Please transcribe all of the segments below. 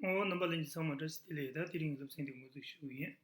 ཨོ་རྣམ་པ་ལན་ཅིག་ཚང་མ་བཀྲ་ཤིས་བདེ་ལེགས་ད་དེ་རིང་གི་སློབ་ཚན་འདི་ངོ་ཚུགས་ཞུ་གི་ཡིན།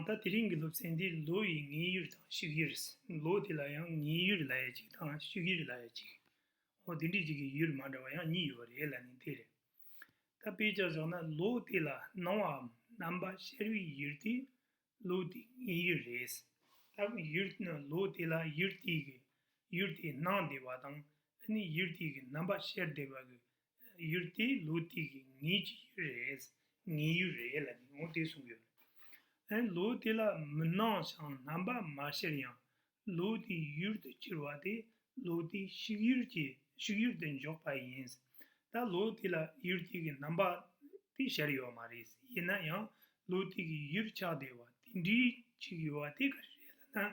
ད་དེ་རིང་གི་སློབ་ཚན་འདི་ལོ་ཡི་ངེས་ཡོད་དང་ཕྱུགས་ཡོད་རེད། ལོ་དེ་ལ་ཡང་ངེས་ཡོད་ལ་ཡ་གཅིག་དང་ཕྱུགས་ཡོད་ལ་ཡ་གཅིག། ཨོ་དེ་འདྲའི་གཅིག་གི་ཡོད་མ་འདྲ་བ་ཡང་གཉིས་ཡོད་པ་རེད་ལ་ནི་དེ་རེད། ད་དཔེ་ཆ་བཞག་ན་ལོ་དེ་ལ་སྣང་བའམ་རྣམ་པ་ཤར་བའི་ཡུལ་དེ་ལུགས་འདི་ངའི་ཡུལ་རེད། ད་གིན་ཡུལ་ནི་ལུགས་དེ་ལ་ཡུལ་དེའི་གིས་ཡུལ་དེ་སྣང་བདེ་བ་དང་ཨ་ནི་ཡུལ་དེའི་གིས་རྣམ་པ་ཤེར་བདེ་བ་གིས་ཡུལ་དེ་ལུགས་དེའི་གིས་ངེད་ཀྱི་ཡུལ་རེད། ངའི་ཡུལ་རེད་ལ་ནི་ངོ་བདེ་གསུངས་ཡོད། ཨ་ནི་ལུགས་དེ་ལ་མི་སྣང་ཞིང་རྣམ་པ་མ་ཤེར་ཡང་ལུག་དེ་ཡུལ་དུ་ཁྱེར་བ་དེས་ལུག་དེ་བཤིག་ཡུལ་གྱི་བཤིག་ཡུལ་དུ་འཇོག་པ་ཡིན། ད་ལུག་དེ་ལ་ཡུལ་དེ་གི་རྣམ་པ་དེ་ཤར་ཡོད་མ་རེད། ཡིན་ན་ཡང་ལུག་དེ་གི་ཡུལ་ཆགས་བདེ་བ་དེ་འདྲི་གཅིག་ཡོད་བ་དེ་ག་རེ་རེད་ལ་ན།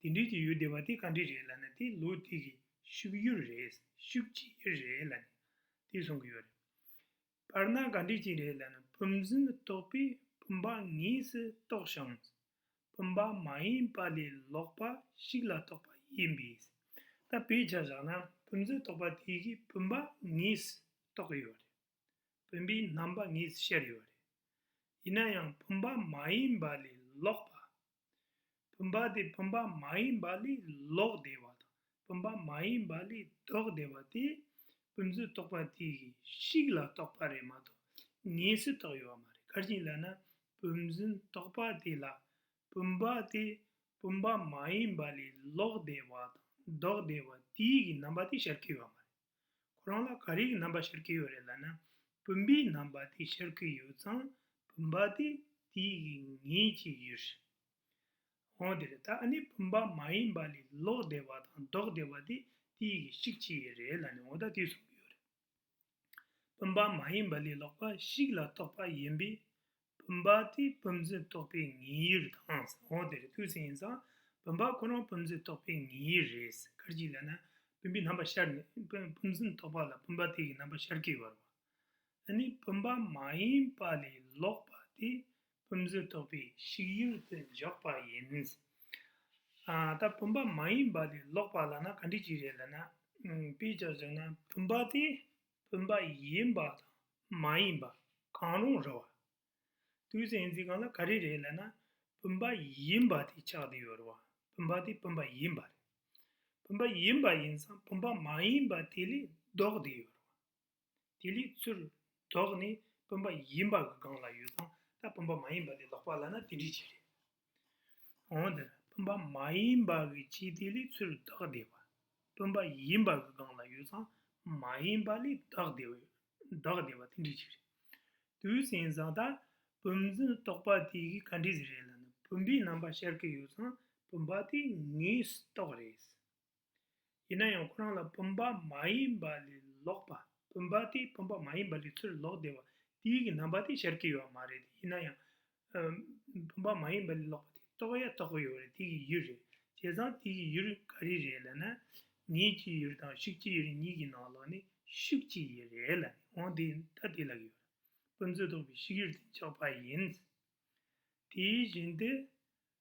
དེ་འདྲི་གཅིག་ཡོད་བདེ་བ་དེ་ག་འདྲི་རེད་ལ་ན་དེ་ལུག་དེ་གི་བཤིག་ཡུལ་རེད་བཤིག་བྱེད་ཡུལ་རེད་ལ་ནི་དེ་གསུང་གི་ཡོད་རེད། བར་སྣང་ག་འདྲས་ཅིག་རེད་ལ་ནི་བུམ་འཛིན་དུ་གཏོགས་པས་བུམ་པ་ངེས་སུ་རྟོགས་ཤིང། བུམ་པ་མ་ཡིན་པ་ལས་ལོགས་པ་ཞིག་ལ་གཏོགས་པ་ཡིན་པས། ད་བེད་སྦྱར་བཞག་ན་བུམ་འཛིན་རྟོགས་པ་དེ་གིས་བུམ་པ་ངེས་སུ་རྟོགས་ཡོད་རེད། བུམ་པའི་རྣམ་པ་ངེས་སུ་ཤར་ཡོད་རེད། ཡིན་ན་ཡང་བུམ་པ་མ་ཡིན་པ་ལས་ལོགས་པ་བུམ་པ་དེ་བུམ་པ་མ་ཡིན་པ་ལས་ལོག་བདེ་བ་དང་བུམ་པ་མ་ཡིན་པ་ལས་ལྡོག་བདེ་བ་དེ། བུམ་བཟོད་རྟོག་པ་དེ་གཤིས་ལ་རྟོག་པ་རེད་མ་གཏོགས་ངེས་སུ་རྟོག་ཡོད་བ་མ་རེད་གར་བཞིན་ལ་ན་བུམ་བཟོད་རྟོག་པ་དེ་ལ་བུམ་པ་དེ་བུམ་པ་མ་ཡིན་པ་ལས་ལོག་བདེ་བ་དང་ལྡོག་བདེ་བ་དེའི་རྣམ་པ་དེ་ཤར་གྱི་ཡོད་བ་མ་རེད། ཁོ་རང་ལ་ག་རེའི་རྣམ་པ་ཤར་གྱི་ཡོད་རེད་ལབ་ན། བུམ་པའི་རྣམ་པ་དེ་ཤར་གྱི་ཡོད་ཙང་བུམ་པ་དེ་དེ་ངེས་ཀྱི་ཡོད་རེད། འོན་ཏེ་ད་ཨ་ནི་བུམ་པ་མ་ཡིན་པ་ལས་ལོག་བདེ་བ་དང་ལྡོག་བདེ་བ་དེ་དེ་གཞིག་གྱི་ཡོད་རེད་ལབ་ན་འོ་ད་དེ་གསུངས་ཀྱི་ཡོད་རེད། བུམ་པ་མ་ཡིན་པ་ལས་ལོག་པ་ཞིག་ལ་རྟོག་པ་ཡིན་པས་བུམ་པ་དེ་བུམ་རྫི་རྟོགས་པའི་ངེས་ཡུལ་དང་ཟ་འོག་དེ་རེ་ཐུགས་སེང་ཡིན་ཙང་བུམ་པ་ཁོ་རང་བུམ་རྫི་རྟོགས་པའི་ངེས་ཡུལ་རེད་ཟེར་ཁར་གྱིས་ལན། བུམ་པའི་རྣམ་པ་ཤར་ནས་བུམ་རྫི་རྟོགས་པ་ལ་བུམ་པ་དེ་གི་རྣམ་པ་ཤར་གྱི་བར་བ། ནི་བུམ་པ་མ་ཡིན་པ་ལས་ལོག་པ་དེ་བུམ་རྫི་རྟོགས་པའི་གཞིག་ཡུལ་དུ་འཇོག་པ་ཡིན། ད་བུམ་པ་མ་ཡིན་པ་ལས་ལོག་པ་ལ་ན་ག་འགྲིག་གྱི་རེད་ལན། དཔེ་ཆ་བཟོས་ན། བུམ་པ་དེ་བུམ་པ་ཡིན་པ་དང་མ་ཡིན་པ་གང་རུང་རེད་བ། དུས་གསལ་འཛིན་གང་ལ་ག་རེ་རེད་ལབ་ན་བུམ་པ་ཡིན་པ་དེ་ཆགས་དེ་ཡོད་རེད་བ་བུམ་པ་དེ་བུམ་པ་ཡིན་པ་རེད། བུམ་པ་ཡིན་པ་ཡིན་ཙང་བུམ་པ་མ་ཡིན་པ་དེ་ལས་ལྡོག་དེ་ཡོད་རེད་བ། དེ་ལས་ཚུར་ལྡོག་ནས་བུམ་པ་ཡིན་པ་གི་སྒང་ལ་ཡོད་ཙང་ད་བུམ་པ་མ་ཡིན་པ་དེ་ལོག་པ་ལབ་ན་དེ་འདྲི་བྱེད་རེད། གང་ལྟར་སྤུན་པ་མ་ཡིན་པ་གི་ཆེད་དེ་ལས་ཚུར་བདག་བདེ་བ། སྤུན་པ་ཡིན་པ་གི་སྒང་ལ་ཡོད་ཙང་མ་ཡིན་པ་ལས་བདག་བདེ་བ་ཡོད། བདག་བདེ་བ་དེ་འདྲའི་ཆེད་རེད། དུས་ཟིང་ཟིང་ལྟར་སྤུན་མཚམས་རྟོག་པ་དེ་གི་ག་འདྲའི་ཟིག་རེད་ལ་ནི་སྤུན་པའི་རྣམ་པ་ཤར་གི་ཡོད་ཙང་སྤུན་པ་དེ་ངའི་རྟོག་རེད། ཡིན་ན་ཡང་ཁོ་རང་ལ་བུམ་པ་མ་ཡིན་པ་ལས་ལོག་པ་བུམ་པ་དེ་བུམ་པ་མ་ཡིན་པ་ལས་ཚུར་ལོག་བདེ་བ་དེའི་གི་རྣམ་པ་དེ་ཤར་གྱི་ཡོད་བ་མ་རེད་ཡིན་ན་ཡང། བུམ་པ་མ་ཡིན་པ་ལས་ལོག་པ་དེ་རྟོགས་ཡ་རྟོགས་གི་ཡོད་རེད་དེའི་གི་ཡུལ་རེད་བྱས་ཙང་དེའི་གི་ཡུལ་ག་རེ་རེད་ལ་ན། ངེས་ཀྱི་ཡུལ་དང་ཤུགས་ཀྱི་ཡུལ་གཉིས་གི་ནང་ལོགས་ནི་ཤུགས་ཀྱི་ཡུལ་རེད་ལ་ནི་འོང་དེ་ད་དེ་ལ་གི་ཡོད་རེད་བུམ་ཚུལ་རྟོགས་པའི་ཤུགས་ཡུལ་དེ་འཇོག་པ་ཡིན། དེའི་བཞིན་དུ།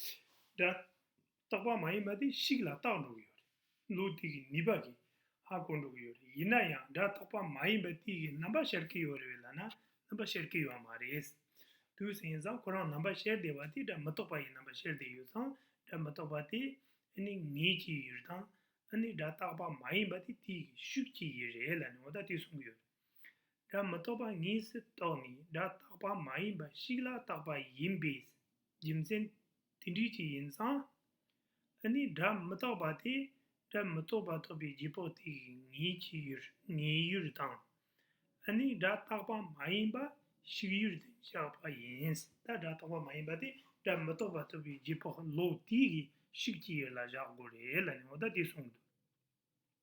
སྒྲ། རྟག་པ་མ་ཡིན་པ་དེ་གཤིས་ལ་རྟག་འགྲོ་གི་ཡོད་རེད། ལུགས་དེ་གི་ནུས་པ་གིས་ཧ་གོ་འགྲོ་གི་ཡོད་རེད་ཡིན་ན་ཡང་སྒྲ་རྟག་པ་མ་ཡིན་པ་དེ་གི་རྣམ་པ་ཤར་གི་ཡོད་རེད་ལ་ན་རྣམ་པ་ཤར་གི་ཡོད་མ་རེད། དུས་ཟིང་ཙང་ཁོ་རང་རྣམ་པ་ཤར་བསྡད་པ་དེ་སྒྲ་མི་རྟག་པ་ཡི་རྣམ་པ་ཤར་བསྡད་ཡོད་ཙང་སྒྲ་མི་རྟག་པ་དེ་ཨེ་ནི་ངེས་ཀྱི་ཡོད་རེད་དང་ཨེ་ནི་སྒྲ་རྟག་པ་མ་ཡིན་པ་དེ་དེ་གི་ཤུགས་ཀྱི་ཡི་རེད་ལ་ནི་འོ་ད་དེ་གསུང་གི་ཡོད་རེད། སྒྲ་མི་རྟོག་པ་ཉིད་སུ་རྟོགས་ནས་སྒྲ་རྟག་པ་མ་ཡིན་པ་ཞིག་ལ་བཏགས་པ་ཡིན་པས་རྒྱུ་མཚན་དེ་འདྲིས་ཀྱི་ཡིན་ཙང། ཨ་ནི་སྒྲ་མི་རྟག་པ་དེ་སྒྲ་མི་རྟོག་པ་རྟོགས་པའི་རྗེས་དཔག་དེ་ཉིད་ཀྱི་ངེས་ཡུལ་དང། ཨ་ནི་སྒྲ་རྟག་པ་མ་ཡིན་པ་ཞིག་ཡུལ་དུ་བཞག་པ་ཡིན། ད་སྒྲ་རྟག་པ་མ་ཡིན་པ་དེ་སྒྲ་མི་རྟོག་པ་རྟོགས་པའི་རྗེས་དཔག་ལོག་ལྟའི་ཤུགས་ཀྱིས་ཡུལ་ལ་བཞག་དགོས་རེད་ལ་ཉོག་བརྡ་དེ་གསུངས་འདུག།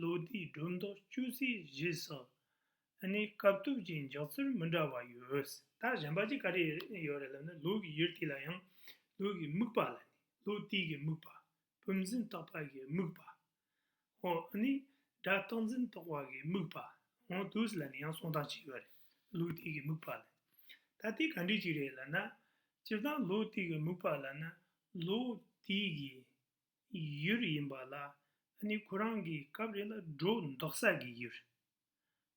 ལོ་དེའི་སྒྲོ་འདོགས་གཅོད་ཚེས་བཞི་སོ། ནི་སྐབས་ཐོབ་ཀྱི་འཇོག་ཚུལ་མི་འདྲ་བ་ཡོད། ད་གཞན་པ་གཅིག་ག་རེ་ཡོད་རེད་ལབ་ན་ལུག་གི་ཡུར་དེ་ལ་ཡང་ལུག་གི་སྨུག་པ་ལ་ནི་ལུག་རྟིས་ཀྱི་སྨུག་པ། བུམ་འཛིན་རྟོག་པ་གི་སྨུག་པ། འོ་ནི་སྒྲ་རྟག་འཛིན་རྟོག་པ་གི་སྨུག་པ། འོ་དུས་ལ་ནི་ཡང་གསུང་སྟངས་གཅིག་ཡོད་རེད་ལུག་རྟིས་ཀྱི་སྨུག་པ་ལ་ནི། ད་དེ་ག་འདྲི་གཅིག་རེད་ལབ་ན། སྤྱིར་བཏང་ལུག་རྟིས་ཀྱི་སྨུག་པ་ལབ་ན་ལུག་རྟིས་ཀྱི་ཡུལ་ཡིན་པ་ལ་ནི་ཁོ་རང་གིས་སྐབས་རེ་ལ་སྒྲོ་འདོགས་ས་ཀྱི་ཡུལ།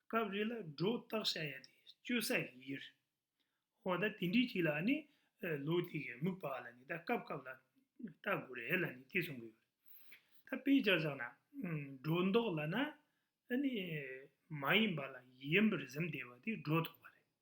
སྐབས་རེ་ལ་སྒྲོ་བཏགས་བྱ་ཡ་དེ་གཅོད་ས་ཀྱི་ཡུལ། འོ་ད་དེ་འདྲའི་ཆེད་ལ་ནི་ལོ་དེ་གའི་དམིགས་པ་ལ་ནི་ད་སྐབས་སྐབས་ལ་ལྟ་དགོས་རེད་ལ་ནི་དེ་གསུང་གི་ཡོད། ད་དཔེ་ཅར་བཞག་ན་སྒྲོ་འདོགས་ལ་ན་ནི་མ་ཡིན་པ་ལ་ཡིན་པར་གཟིམ་བསྡད་པ་དེ་སྒྲོ་འདོགས་པ་རེད།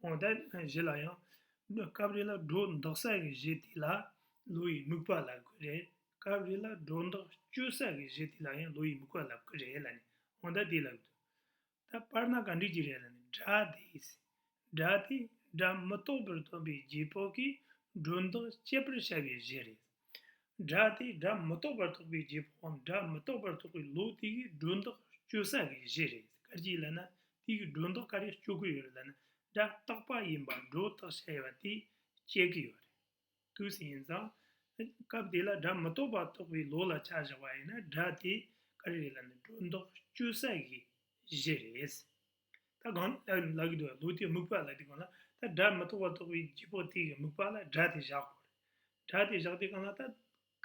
དབང་དང་བཞི་ལ་ཡང། སྐབས་རེ་ལ་སྒྲོ་འདོགས་ས་གི་གཞི་དེ་ལ་ལོ་ཡི་དམིགས་པ་ལབ་དགོས་རེད། སྐབས་རེ་ལ་སྒྲོ་འདོགས་གཅོད་ས་གི་གཞི་དེ་ལ་ཡང་ལོ་ཡི་དམིགས་པ་ལབ་དགོས་རེད་ལ་ནི་དབང་དང་དེ་ལ་དགོས། ད་དཔེར་ན་ག་འགྲིག་གི་རེད་ལ་ནི་སྒྲ་དེས། སྒྲ་དེས་སྒྲ་མི་རྟོགས་པར་སྟོན་པའི་རྗེས་དཔག་གིས་སྒྲོ་འདོགས་གཅད་པར་བྱ་བའི་གཞི་རེད། སྒྲ་དེ་སྒྲ་མི་རྟོག་པར་རྟོག་པའི་རྗེས་ཕོའམ་སྒྲ་མི་རྟོག་པར་རྟོག་པའི་ལུགས་དེ་གའི་སྒྲོ་འདོགས་གཅོད་ས་གའི་གཞི་རེད་སྐར་གཅིག་ལ་ན་དེ་གའི་སྒྲོ་འདོགས་ག་རེ་གཅོད་དགོས་ཡོད་རེད་ལ་ན་སྒྲ་རྟག་པ་ཡིན་པར་སྒྲོ་བཏགས་བྱ་ཡས་པ་དེ་དཔྱད་གི་ཡོད་རེད་དུས་སུ་ཡིན་ཙང། སྐབས་དེ་ལ་སྒྲ་མི་རྟོག་པར་རྟོག་པའི་ལུགས་ལ་བྱ་བཞག་པ་ཡིན་ན་སྒྲ་དེ་ག་རེ་རེད་ལ་ན་སྒྲོ་འདོགས་གཅོད་ས་གའི་གཞི་རེད། ད་གང་ལ་ལག་གི་འདུག་ལུག་དེ་སྨུག་པ་ལ་དེ་གང་ལ་ད་སྒྲ་མི་ཐོག་པ་ཐོག་པའི་རྗེས་ཕོག་དེ་གི་སྨུག་པ་ལ་སྒྲ་དེ་བཞག་གོ། སྒྲ་དེ་བཞག་དེ་གང་ལ་ད་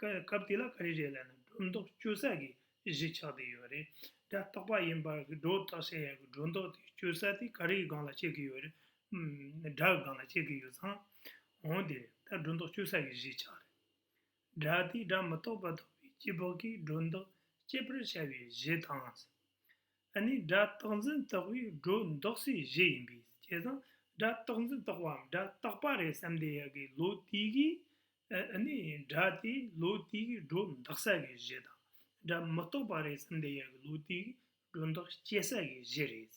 སྐབས་དེ་ལ་ག་རེ་རེད་ལ་ན་སྒྲོ་འདོགས་གཅོད་ས་གི་གཞི་ཆགས་དེ་ཡོད་རེད། སྒྲ་རྟོག་པ་ཡིན་པར་གི་སྒྲོ་བཏགས་བྱ་ཡག་གི་སྒྲོ་འདོགས་དེ་གཅོད་ས་དེ་ག་རེའི་སྒང་ལ་བྱེད་གི་ཡོད་རེད། སྒྲ་གི་སྒང་ལ་བྱེད་གི་ཡོད་ཙང་འོང་དེ་ད་སྒྲོ་འདོགས་གཅོད་ས་གི་གཞི་ཆགས་རེད། སྒྲ་དེ་སྒྲ་མི་ཐོག་པ་ཐོག་པའི་རྗེས་ཕོག་གི་སྒྲོ་འདོགས་གཅད་པར་བྱ་བའི་གཞི་དང། ཨ་ནི་སྒྲ་རྟག་འཛིན་རྟོག་པའི་སྒྲོ་འདོགས་སའི་གཞི་ཡིན་པས་བྱས་ཙང་སྒྲ་རྟག་འཛིན་རྟོག་པའམ་སྒྲ་རྟག་པ་རེད་བསམ་བསྡད་ཡག་གི་ལོ་དེའི་གི་ཨ་ནི་སྒྲ་དེ་ལོ་དེའི་གི་སྒྲོ་འདོགས་ས་གི་གཞི་དང་སྒྲ་མི་རྟོག་པ་རེད་བསམ་བསྡད་ཡག་གི་ལོ་དེའི་གི་སྒྲོ་འདོགས་སྐྱེ་ས་གི་གཞི་རེད།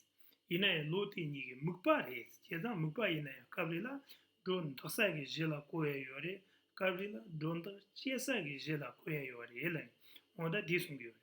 ཡིན་ན་ཡང་ལོ་དེ་གཉིས་གི་དམིགས་པ་རེད་བྱས་ཙང་དམིགས་པ་ཡིན་ན་ཡང་སྐབས་རེ་ལ་སྒྲོ་འདོགས་ས་གི་གཞི་ལ་གོ་ཡ་ཡོད་རེད་སྐབས་རེ་ལ་སྒྲོ་འདོགས་སྐྱེ་ས་གི་གཞི་ལ་གོ་ཡ་ཡོད་རེད་ལ་ནི་ངོ་ད་དེ་གསུང་གི་ཡོད་རེད།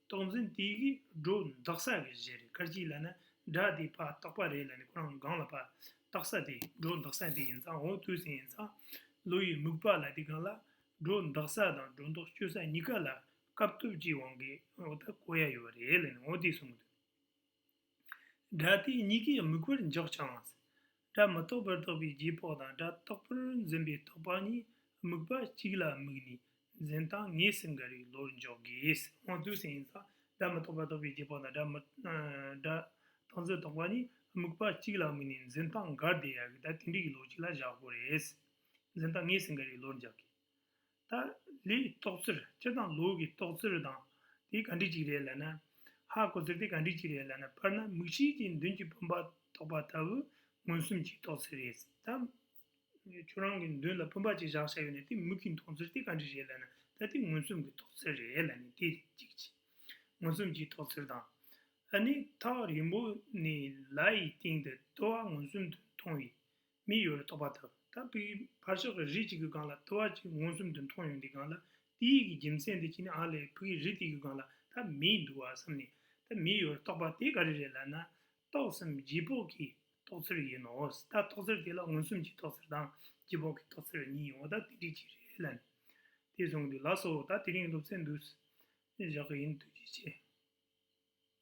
རྟོག་འཛིན་དེ་གིས་སྒྲོ་འདག་ས་གི་གཞི་རེད་ཁར་གྱིས་ལ་ནི་སྒྲ་དེའི་བར་རྟག་པ་རེད་ལ་ནི་ཁོ་རང་གི་གང་ལ་བར་རྟག་ས་དེ་སྒྲོ་འདག་ས་དེ་ཡིན་ཙང་འོ་དུས་ཟིན་ཡིན་ཙང་ལོ་ཡི་མུག་པ་ལ་དེ་གང་ལ་སྒྲོ་འདག་ས་དང་སྒྲོ་འདོགས་གཅོད་ས་གཉིས་ཀ་ལ་སྐབས་སྟོབས་ཀྱི་དབང་གིས་འོ་ད་གོ་ཡ་ཡོད་རེད་ལ་ནི་འོ་དེ་གསུངས་དུས། སྒྲ་དེ་གཉིས་ཀའི་དམིགས་པར་འཇོག་ཅིང། སྒྲ་མི་རྟོག་པར་རྟོགས་པའི་རྗེས་དཔག་དང་སྒྲ་རྟོག་པར་འཛིན་པའི་རྟོག་པ་གཉིས་དམིགས་པ་གཅིག་ལ་དམིགས་ནས་འཛིན་སྟངས་ངེས་སུ་འགལ་བའི་བློར་འཇོག་དགོས། དངོས་པོའི་སེམས་ཡིན་ཙང་སྒྲ་མི་རྟོག་པར་རྟོགས་པའི་རྗེས་དཔག་དང་སྒྲ་རྟག་འཛིན་རྟོག་པ་གཉིས་དམིགས་པ་གཅིག་ལ་དམིགས་ནས་འཛིན་སྟངས་འགལ་ཟླའི་ཡ་གི་དང་དེ་འབྲེལ་གྱི་ལོ་གཅིག་ལ་བཞག་དགོས། འཛིན་སྟངས་ངེས་སུ་འགལ་བའི་བློར་འཇོག་དགོས། ད་ལི་ཏོག་ཙིར་སྤྱི་དང་ལུག་གི་ཏོག་ཙིར་དང་དེ་ག་འདྲི་ཅིག་རེད་ལ་ན། ཧ་གོ་ཙིར་དེ་ག་འདྲི་ཅིག་རེད་ལ་ན་དཔེར་ན་མིག་ཤེལ་གྱི་མདུན་གྱི་བུམ་པ་ཐོགས་པ་ལྟ་བུ་མངོན་སུམ་གྱི་ཏོག་ཙིར་རེད་ད། ཁྱོད་རང་གི་མདུན་ལ་བུམ་པ་གཅིག་བཞག་བྱ་ཡོད་ན་དེ་མིག་གི་མདུང་ཙིར་དེ་ག་འདྲི་རེད་ལ་ན་ད་དེ་མངོན་སུམ་གྱི་ཏོག་ཙིར་རེད་ལ་ནི་དེ་གཅིག་གཅིག་མངོན་སུམ་གྱི་ཏོག་ཙིར་དང། ཨ་ནི་ཐག་རིང་པོ་ནས་ལ་ཡི་སྟེང་དུ་ལྟོ་བ་མངོན་སུམ་དུ་མཐོང་བའི་མི་གཡོ་བའི་རྟོག་པ་དང། ད་པིར་བར་ཤོག་གི་རི་གཅིག་གི་སྒང་ལ་ལྟེ་བ་གཅིག་མངོན་སུམ་དུ་མཐོང་ཡོང་དེ་སྒང་ལ་ཏི་ཡིག་གི་རྒྱུ་མཚན་དེ་ཅི་ནི་ཨ་ལས་བུ་གི་རི་དེ་གི་སྒང་ལ་ད་མིའི་འདུག་བ་བསམ་ནས་ད་མི་གཡོ་བའི་རྟོག་པ་དེ་ག་རེ་རེད་ལབ་ན། རྟོག་བསམ་རྗེས་དཔོག་གི་རྟོག་ཚུལ་ཡིན་ནོ། ད་རྟོག་ཚུལ་དེ་ལ་མངོན་སུམ་གྱི་རྟོག་ཚུལ་དང་རྗེས་དཔོག་གི་རྟོག་ཚུལ་གཉིས་ཡོད་ད་དེ་འདྲི་གཅིག་རེད་ལབ་ནས། དེ་སོང་དུས་ལགས་སོ་ད་དེ་རིང་སློབ་ཚན་འདུག་བཞག་གི་ཡིན་དུས་ཀྱི་ཆེ།